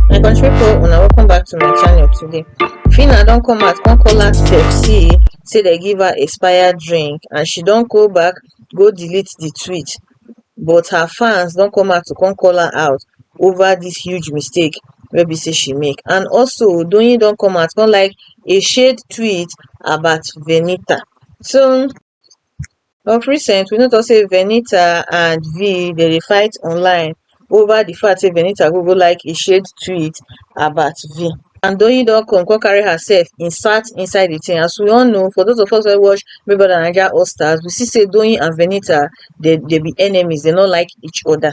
my country people una welcome back to my channel today Fina don come out come call her Pepsi say they give her expired drink and she don go back go delete the tweet but her fans don come out to come call her out over this huge mistake wey be say she make and also Odoyin don come out come like a shade tweet about Venita so Of recent we no talk sey Venita and Vee dem dey fight online over de fact sey Venita no go like a shared tweet about Vee and Doyin don come come carry herself insert inside de thing as we all know for those of us wey watch Big Brother Naija All Stars we see sey Doyin and Venita dem be enemies dem no like each other.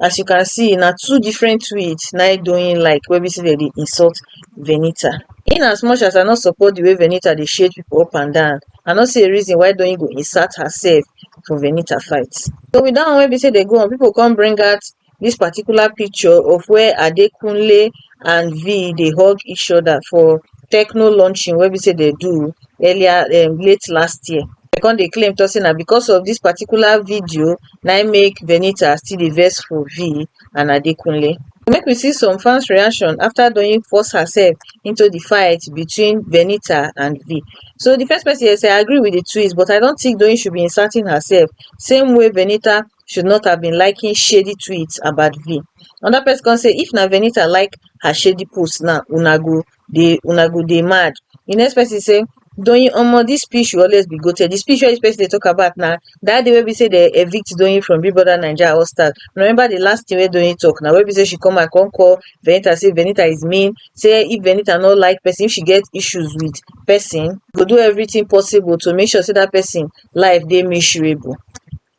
as you can see na two different tweets na him Doyin like wey be say dem dey insult Venita. In as much as I no support the way Venita dey shade people up and down, I no see a reason why Doyin go insert herself for Venita fight. So with that one wey be say dey go on, people come bring out this particular picture of where Adekunle and vee dey hug each other for techno launching wey be sey dem do earlier um late last year. Dem come dey claim talk sey na because of dis particular video na im make Venita still dey vex for vee and Adekunle. Make we see some fans reaction after Doyin force herself into de fight between Venita and vee. So de first person here say I agree with de twist but I don't think Doyin should be inserting herself same way Venita should not have been liking shady tweets about vee anoda pesin come say if na venita like her shady post now una go dey una go dey mad di next pesin say doyin omo dis speech will always be goated di speech wey dis pesin dey tok about na dat day wey be say dem evict doyin from big brother naija all stars remember di last tin wey doyin tok na wey be say she come out come call venita say venita is mean say if venita no like pesin if she get issues wit pesin go do everytin possible to make sure say dat pesin life dey miserable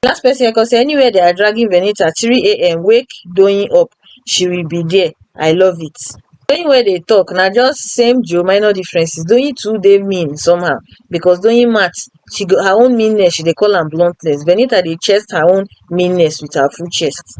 the last person wey come say anywhere they are dragging venita three am wake doyin up she will be there i love it doyin wey dey talk na just same joe minor differences doyin too dey mean somehow because doyin mat she go her own meanness she dey call am bluntness venita dey chest her own meanness with her full chest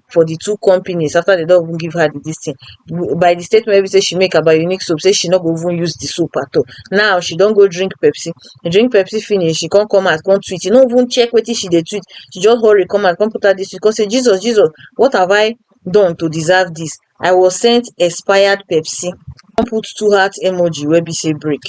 for di two companies after dem don even give her di dis tin by di statement wey be sey she make about Unique soap sey she no go even use di soap at all now she don go drink Pepsi drink Pepsi finish she come come out come tweet she no even check wetin she dey tweet she just hurry come out come put out dis tweet come sey Jesus Jesus what have I done to deserve dis I was sent expired Pepsi come put two heart emoji wey be sey break.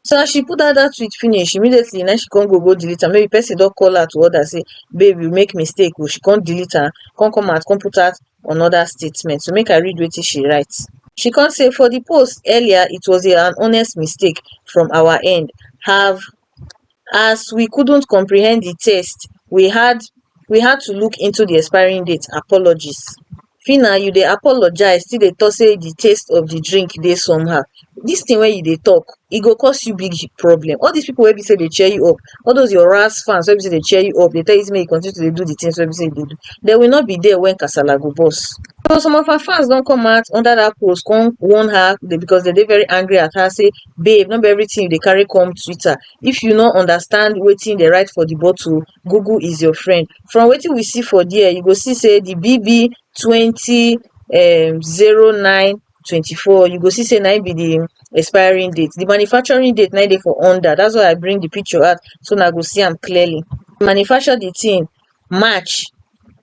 so as she put dat dat tweet finish immediately na im she come go go delete am maybe person don call her to order say babe you make mistake oh she come delete am come come out come put out another statement so make I read wetin she write she come say for the post earlier it was an honest mistake from our end have as we couldn't comprehend the test we had we had to look into the expiring date apologies Phyna you dey apologize still dey talk say the taste of the drink dey somehow this thing wey you dey talk e go cause you big problem all these people wey be say dey cheer you up all those your ras fans wey be say dey cheer you up dey tell you say make you continue to dey do the things wey be say you dey do they will not be there when kasala go burst so some of her fans don come out under that post come warn her because they dey very angry at her say babe no be everything you dey carry come Twitter if you no understand wetin they write for the bottle google is your friend from wetin we see for dia you go see say di bb twenty um zero nine twenty four you go see say na im be di expiring date di manufacturing date na im dey for under dat is why I bring di picture out so una go see am clearly manufacture di tin march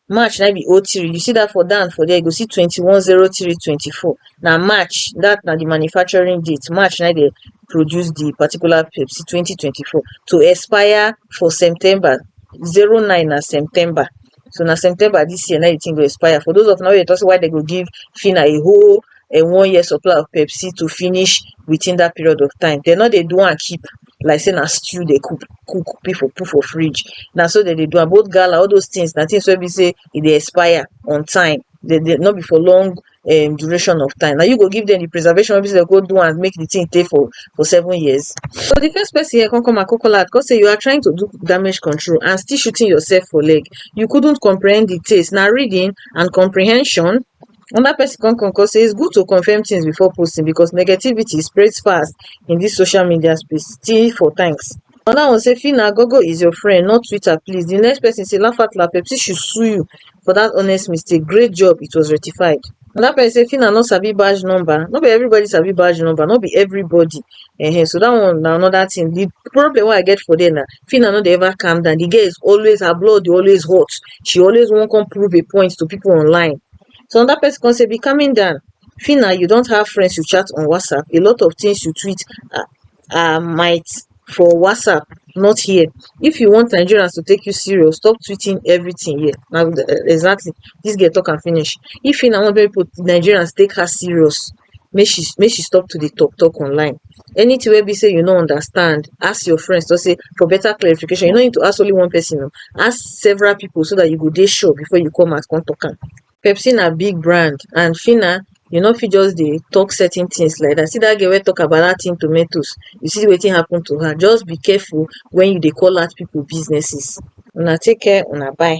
March na im be O three, you see dat for down for there, you go see twenty one zero three twenty four na March dat na di manufacturing date, March na im dem produce di particular Pepsi twenty twenty four to expire for September, zero nine na September so na September dis year na im di tin go expire. For dose of una wey dey talk sey why dem go give Fina a whole one year supply of Pepsi to finish within dat period of time, dem nor dey do am keep like say na stew dey cook cook people put for fridge na so dem dey do am both gala all those things na things wey be say e dey expire on time dey dey no be for long um duration of time na you go give dem the preservation wey be say dem go do am make the thing tey for for seven years so the first person here come come out come call out come say you are trying to do damage control and still shooting yourself for leg you couldn't comprehend the taste na reading and comprehension Another person come come come say it's good to confirm things before posting because negativity spreads fast in this social media space. T for thanks. Another one say Fina Gogo is your friend, not Twitter, please. The next person say Lafatla Pepsi should sue you for that honest mistake. Great job, it was rectified. Another person say Fina no sabi badge number. No be everybody sabi badge number, no be everybody. Ehen, so that one na another thing. The problem wey I get for there na Phyna no dey ever calm down, the girl is always, her blood dey always hot, she always wan come prove a point to people online. So another person come say, be calming down, Phyna, you don't have friends you chat on WhatsApp, a lot of things you tweet are, are might for WhatsApp, not here. If you want Nigerians to take you serious, stop tweeting everything here. Now, exactly, this girl talk and finish. If Phyna want people, Nigerians take her serious, make she make she stop to dey talk talk online anything wey be sey you no understand ask your friends just say for better clarification you no need to ask only one person oh ask several people so that you go dey sure before you come out come talk am Pepsi na big brand and Phyna you no fit just dey talk certain things like that see that girl wey talk about that thing tomatoes you see wetin happen to her just be careful when you dey call out people businesses una take care una bye